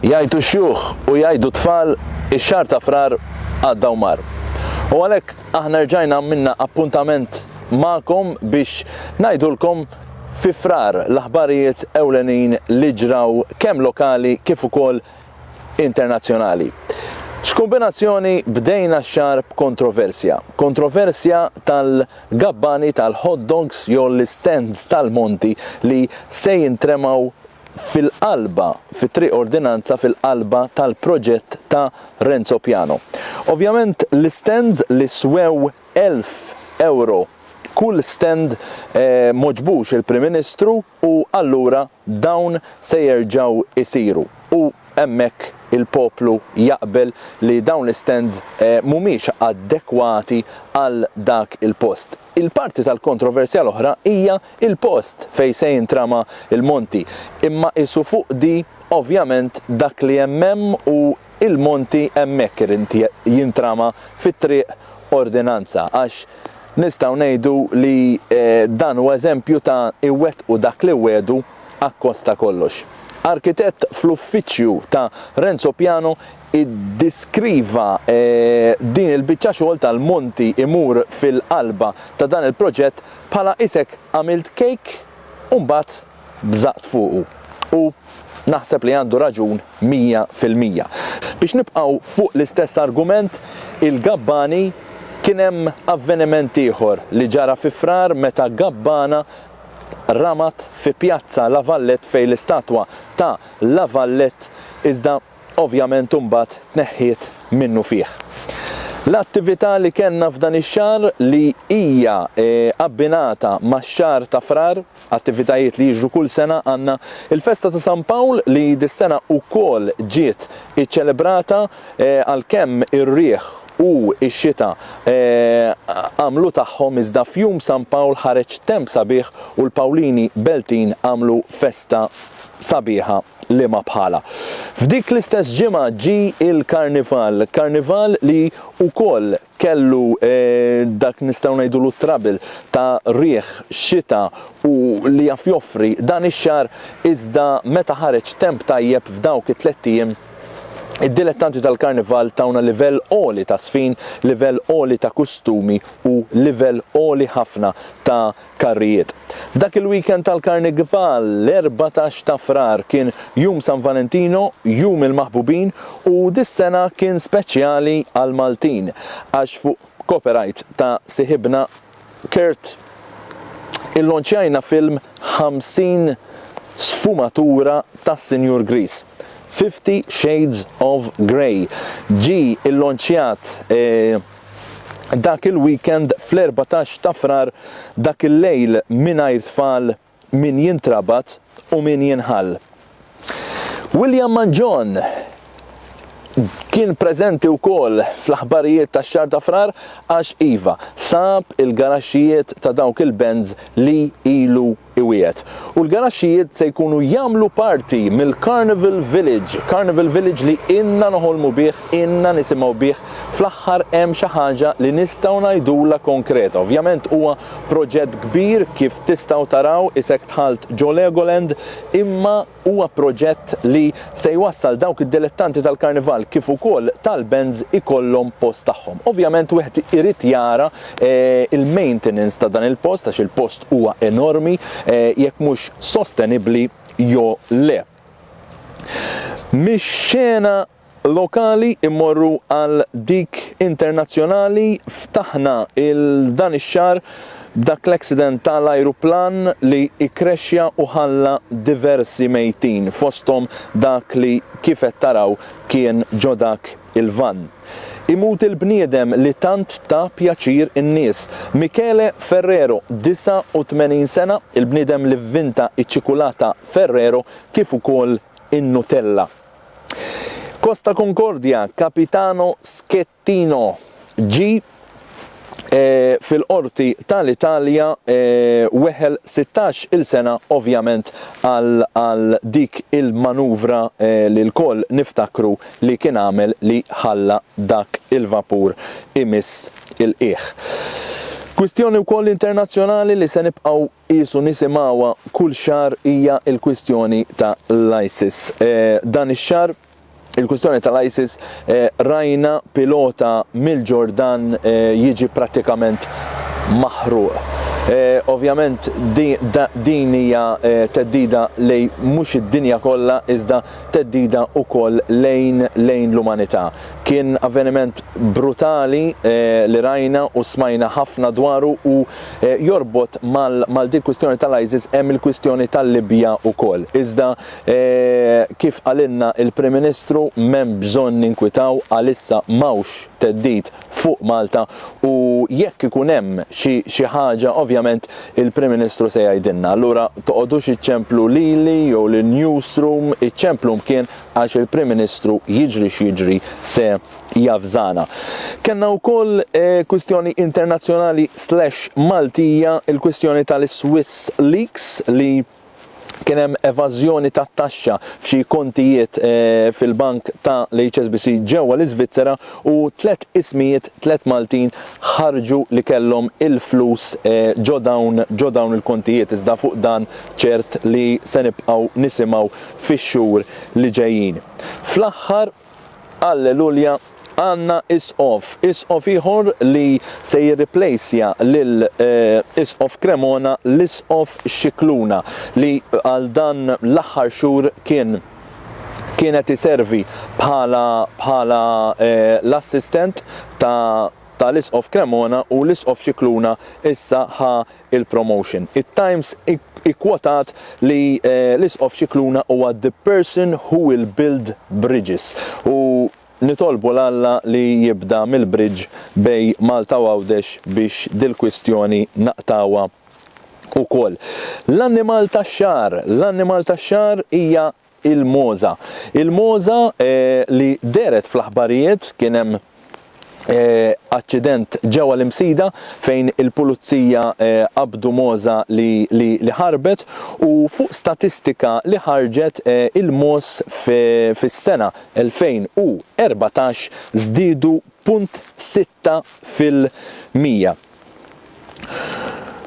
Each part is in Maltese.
Jgħidu xjuħ u jgħidu tfal ix-xahar ta' frar għadda u mar. U għalhekk aħna rġajna minna appuntament magħkom biex ngħidulkom fi frar l-aħbarijiet ewlenin li ġraw kemm lokali kif ukoll internazzjonali. X'kombinazzjoni bdejna x-xahar b'kontroversja. Kontroversja tal-gabbani tal-hot dogs jew l-istands tal-monti li se jintremgħu fil-qalba, fi Triq Ordinanza fil-qalba tal-proġett ta' Renzo Piano. Ovvjament l-istands li swew elf ewro kull stand moġbux il-Prim Ministru u allura dawn se jerġgħu jsiru u hemmhekk il-poplu jaqbel li dawn l-istands mhumiex adekwati għal dak il-post. Il-parti tal-kontroversja l-oħra hija l-post fejn se jintrama l-monti, imma qisu fuqdi ovvjament dak li hemm hemm u il-monti hemmhekk irid jintrama fit-triq ordinanza għax nistgħu ngħidu li dan hu eżempju ta' iwettqu dak li wegħdu akkost ta' kollox. Arkitett fl-uffiċċju ta' Renzo Piano iddiskriva din il-biċċa xogħol tal-monti imur fil-qalba ta' dan il-proġett bħala isek għamilt kejk u mbagħad bżaqt fuqu u naħseb li għandu raġun mija fil-mija. Biex nibqgħu fuq l-istess argument, il-gabbani, kien hemm avveniment ieħor li ġara fi Frar meta gabbana ramat fi Pjazza La Vallette fejn l-istatwa ta' La Vallette iżda ovvjament imbagħad tneħħiet minnufih. L-attività li kellna f'dan ix-xahar li hija abbinata max-xahar ta' Frar, attivitajiet li jiġru kull sena għandna il-festa ta' San Pawl li dis-sena wkoll ġiet iċċelebrata għalkemm ir-riħ u x-xita għamlu tagħhom iżda f'jum San Pawl ħareġ temp sabiħ u l-Pawlini Beltin għamlu festa sabiħa liema bħalha. F'dik l-istess ġimgħa ġie l-Karnival, Karnival li wkoll kellu dak nistgħu ngħidulu t-trouble ta' riħ, xita u li jaf joffri dan ix-xahar iżda meta ħareġ temp tajjeb f'dawk it-tlett ijiem id-dilettanti tal-Karnival tawna livell għoli ta' żfin, livell għoli ta' kustumi u livell għoli ħafna ta' Karrijiet. Dak il-weekend tal-Karnigbal, l-erbatax ta' Frar, kien Jum San Valentino, Jum il-Maħbubin u dis-sena kien speċjali għall-Maltin għax fuq copyright ta' siħibna Kurt illonċjajna film 50 sfumatura tas-Sinjur Griż. Fifty Shades of Grey ġie llonċjat dak il-weekend fl-erbatax ta' Frar dak il-lejl mingħajr tfal min jintrabat u min jinħall. William Mangion kien preżenti wkoll fl-aħbarijiet tax-xahar ta' Frar għax iva, sab il-garaxxijiet ta' dawk il-Benz li ilu iwiegħed. U l-garaxxijiet se jkunu jagħmlu parti mill-Carnival Village, Carnival Village li ilna noħolmu bih, ilna nisimgħu bih, fl-aħħar hemm xi ħaġa li nistgħu ngħidulha konkreta. Ovvjament huwa proġett kbir kif tistgħu taraw isek dħalt ġo Legoland imma, Huwa proġett li se jwassal dawk id-dilettanti tal-karnival kif ukoll tal-bands ikollhom post tagħhom. Ovvjament wieħed irid jara l-maintenance ta' dan il-post għax il-post huwa enormi jekk mhux sostenibbli jew le. Mix-xena lokali jmorru għal dik internazzjonali, ftaħna il dan ix-xahar b'dak l-accident ta' l-ajruplan li ikkrexxa u ħalla diversi mejtin, fosthom dak li kif qed taraw kien ġo dak il-vann. Imut il-bniedem li tant ta pjaċir in-nies. Michele Ferrero, 89 sena, il-bniedem li vvinta ċ-ċikulata Ferrero kif ukoll in-Nutella. Costa Concordia, Capitano Schettino ġie fil-Qorti tal-Italja weħel sittax il sena ovvjament għal dik il-manuvra li lkoll niftakru li kien għamel li ħalla dak il-vapur imiss il-qiegħ. Kwistjoni wkoll internazzjonali li se nibqgħu Qiesu nisimgħuha kull xahar hija l-kwistjoni ta' l-ISIS. Dan ix-xahar il-kwistjoni ta' l-ISIS rajna pilota mill-Ġordan jiġi prattikament maħruq. Ovvjament din hija theddida lejn mhux id-dinja kollha iżda theddida wkoll lejn lejn l-umanità. Kien avveniment brutali li rajna u smajna ħafna dwaru u Jorbot mal din kwistjoni tal-ISIS hemm il-kwistjoni tal-Libja wkoll. Iżda kif qalilna il-Prim Ministru m'hemm bżonn ninkwitaw għalissa m'hawnx theddid fuq Malta u jekk ikun hemm xi xi ħaġa ovvjament il-Prim Ministru se jgħidilna. Allura toqgħodux iċċemplu lili jew lin-newsroom iċċemplu mkien għax il-Prim Ministru jiġri x'jiġri se javżana. Kellna wkoll kwistjoni internazzjonali slash Maltija, il-kwistjoni tal-Swiss Leaks li kien hemm evażjoni tat-taxxa f'xi kontijiet eh, fil-bank ta' l-HSBC ġewwa l-Iżvizzera u tliet ismijiet tliet Maltin ħarġu li kellhom il-flus eh, ġo dawn ġo dawn il-kontijiet iżda fuq dan ċert li se nibqgħu nisimgħu fix-xhur li ġejjin. Fl-aħħar Alleluja, għandna Isqof, Isqof ieħor li se jirriplejsja lil Isqof Cremona, l-Isqof Scicluna, li għal dan l-aħħar xhur kien kien qed iservi bħala bħala l-assistent ta' ta' l-Isqof Cremona u l-Isqof Scicluna issa ħa il-promotion. It-Times ikkwotat li l-Isqof Scicluna huwa the person who will build bridges u nitolbu 'l Alla li jibda mill-bridge bej Malta u Għawdex biex dil-kwistjoni naqtgħuha wkoll. L-annimal tax-xahar L-annimal tax-xahar hija Il-mogħża. Il-mogħża li dehret fl-aħbarijiet kien hemm aċċident ġewwa l-Imsida fejn il-Pulizija qabdu mogħża li ħarbet u fuq statistika li ħarġet il-mogħoż fis-sena 2014 żdiedu punt sitta fil-mija.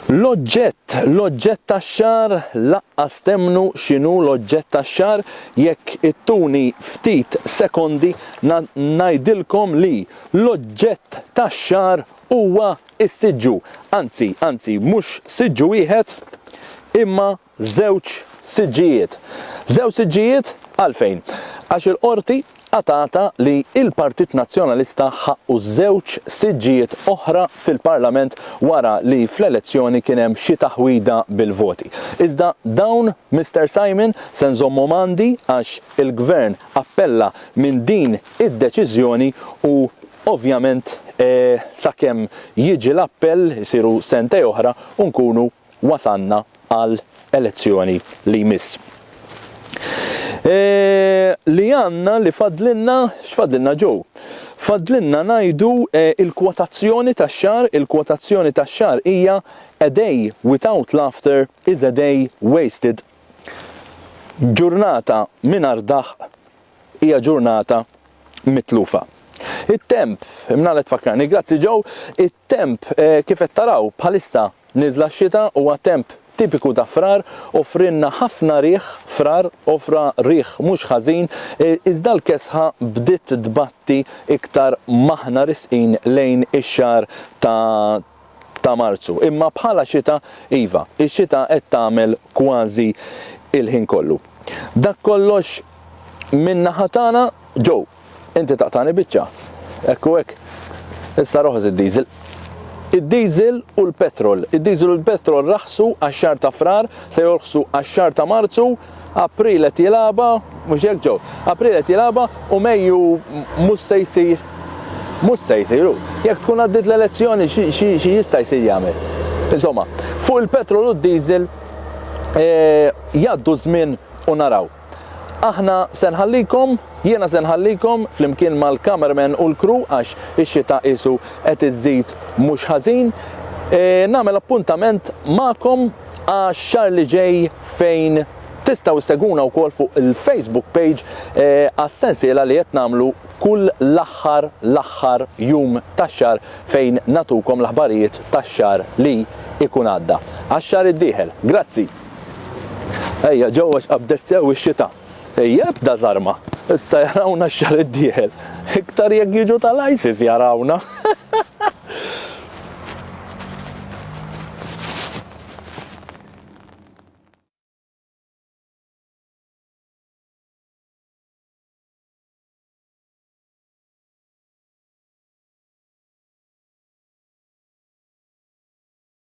L-oġġett, l-oġġett tax-xagħar laqqas temmnu x'inhu l-oġġett tax-xagħar, jekk ittuni ftit sekondi ngħidilkom li l-oġġett tax-xagħar huwa s-siġġu, anzi, anzi mhux siġġu wieħed imma żewġ siġġijiet. Żewġ siġġijiet għalfejn? Għax il-Qorti qatgħatha li l-Partit Nazzjonalista ħaqqu żewġ siġġijiet oħra fil-Parlament wara li fl-elezzjoni kien hemm xi taħwida bil-voti. Iżda dawn, Mister Simon, se nżommhom għandi għax il-Gvern appella minn din id-deċiżjoni u ovvjament sakemm jiġi l-appell isiru sentej oħra u nkunu wasalna għal elezzjoni li jmiss. Li għandna li fadlilna, x'fadlilna Joe? Fadlilna ngħidu il-kwotazzjoni tax-xahar, il-kwotazzjoni tax-xahar hija A day without laughter is a day wasted. Ġurnata mingħajr daħq hija ġurnata mitlufa. It-temp, imnalla tfakkarni, grazzi Joe, Temp, Kif qed taraw, bħalissa niżla x-xita, huwa temp tipiku ta' Frar, offrielna ħafna riħ, Frar offra riħ mhux ħażin, iżda l-kesħa bdiet tbatti iktar m'aħna risqin lejn ix-xahar ta' ta' Marzu. Imma bħala xita, iva, ix-xita qed tagħmel kważi l-ħin kollu. Dak kollox min-naħa tagħna, Joe. Inti taqtagħni biċċa. Hekk u hekk. Issa roħos id-diesel. Id-diesel u l-petrol. Id-diesel u l-petrol raħsu għax-xahar ta' Frar, se jorħsu għax-xahar ta' Marzu, April qed jilgħabha, mhux hekk ġew? April qed jilgħabha u Mejju mhux se jsir. Mhux se jsir u jekk tkun għaddiet l-elezzjoni xi jista' jsir jagħmel? Insomma, fuq il-petrol u d-diesel jgħaddu żmien u naraw. Aħna se nħallikom, jiena se nħallikom flimkien mal-cameraman u l-crew għax ix-xita qisu qed iżżid mhux ħażin. E, nagħmel appuntament magħkom għax-xahar li ġej fejn tistgħu ssegwuna wkoll fuq il-Facebook page e, għas-sensiela li qed nagħmlu kull l-aħħar l-aħħar jum tax-xahar fejn natukom l-aħbarijiet tax-xahar li ikun għadda. Għax-xahar id-dieħel. Grazzi. Ejja, ġew għax qabdet sew ix-xita. Ejja, ebda żarma. Issa jarawna x-xahar id-dieħel. Iktar jekk jiġu tal-ISIS jarawna.